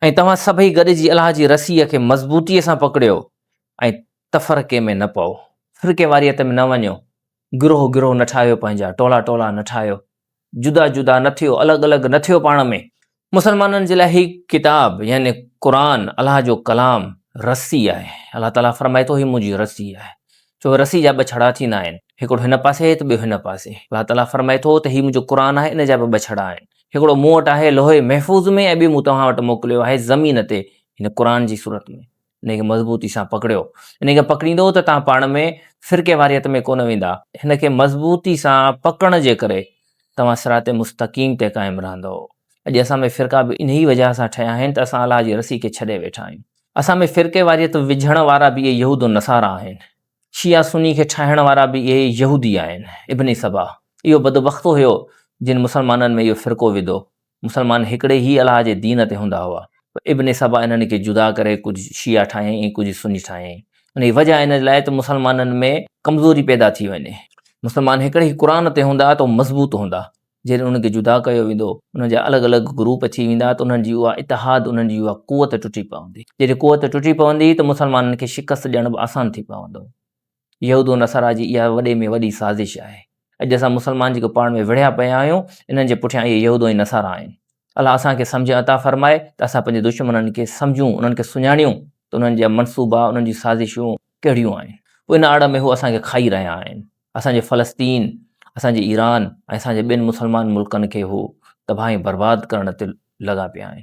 ۽ توهان سڀئي گڏجي الله جي رسيء کي مضبوطيء سان پڪڙيو ۽ تفرقي ۾ نه پئو، فرقي واريت ۾ نه وڃو، گروهه گروهه نه ٺاهيو پنهنجا، ٽولا ٽولا نه ٺاهيو، جدا جدا نه ٿيو، الڳ الڳ نه ٿيو پاڻ ۾. مسلمانن جي لاء هي ڪتاب يعني قرآن الله جو ڪلام رسي آهي، الله تعاليٰ فرمائي ٿو، هي منهنجي رسي آهي، ڇو جو رسي جا ٻه ڇڙا ٿيندا آهن، هڪڙو هن پاسي ته ٻيو هن پاسي. الله تعاليٰ فرمائي ٿو ته هي منهنجو قرآن آهي ان جا به ٻه ڇڙا آهن، هڪڙو مون وٽ آهي لوح محفوظ ۾ ۽ ٻيو مون توهان وٽ موڪليو آهي زمين تي يعني قرآن جي صورت ۾، ان کي مضبوطي سان پڪڙيو، ان کي پڪڙيندؤ ته توهان پاڻ ۾ فرقي واريت ۾ ڪونه ويندا. هن کي مضبوطي سان پڪڙڻ جي ڪري توهان صراط مستقيم تي قائم رهندؤ. اڄ اسان ۾ فرقا به انهي وجه سان ٺهيا آهن ته اسان الله جي رسي کي ڇڏي ويٺا آهيون. اسان ۾ فرقيواريت وجهڻ وارا به اهي يهود و نصارا آهن. شيعا سني کي ٺاهڻ وارا به اهي يهودي آهن. ابن سبع اهو بدبخت هيو جن مسلمانن ۾ اهو فرقو وڌو. مسلمان هڪڙي ئي الله جي دين تي هوندا هئا. پر ابن سبع انهن کي جدا ڪري ڪجهه شيعا ٺاهيائين ۽ ڪجهه سني ٺاهيائين. انهيء وجهه ان لاء ته مسلمانن ۾ ڪمزوري پيدا ٿي وڃي. مسلمان هڪڙي ئي قرآن تي هوندا ته مضبوط هوندا. جڏهن انهن کي جدا ڪيو ويندو، انهن جا الڳ الڳ گروپ اچي ويندا ته انهن جي اها اتحاد، انهن جي اها قوت ٽٽي پوندي. جڏهن قوت ٽٽي پوندي ته مسلمانن کي شڪست ڏيڻ به آسان ٿي پوندو. يهود و نصارا جي اها وڏي ۾ وڏي سازش آهي. اڄ اسان مسلمان جيڪي پاڻ ۾ وڙهيا پيا آهيون، انهن جي پٺيان اهي يهود ۽ نصارا آهن. الله اسان کي سمجهه عطا فرمائي ته اسان پنهنجي دشمنن کي سمجهون، انهن کي سڃاڻيون ته انهن جا منصوبا، انهن جون سازشون ڪهڙيون آهن. پوء ان آڙ ۾ هو اسان کي کائي رهيا آهن. اسان جي فلسطين، اسان جي ايران ۽ اسان جي ٻين مسلمان ملڪن کي هو تباهه ۽ برباد ڪرڻ تي لڳا پيا آهن.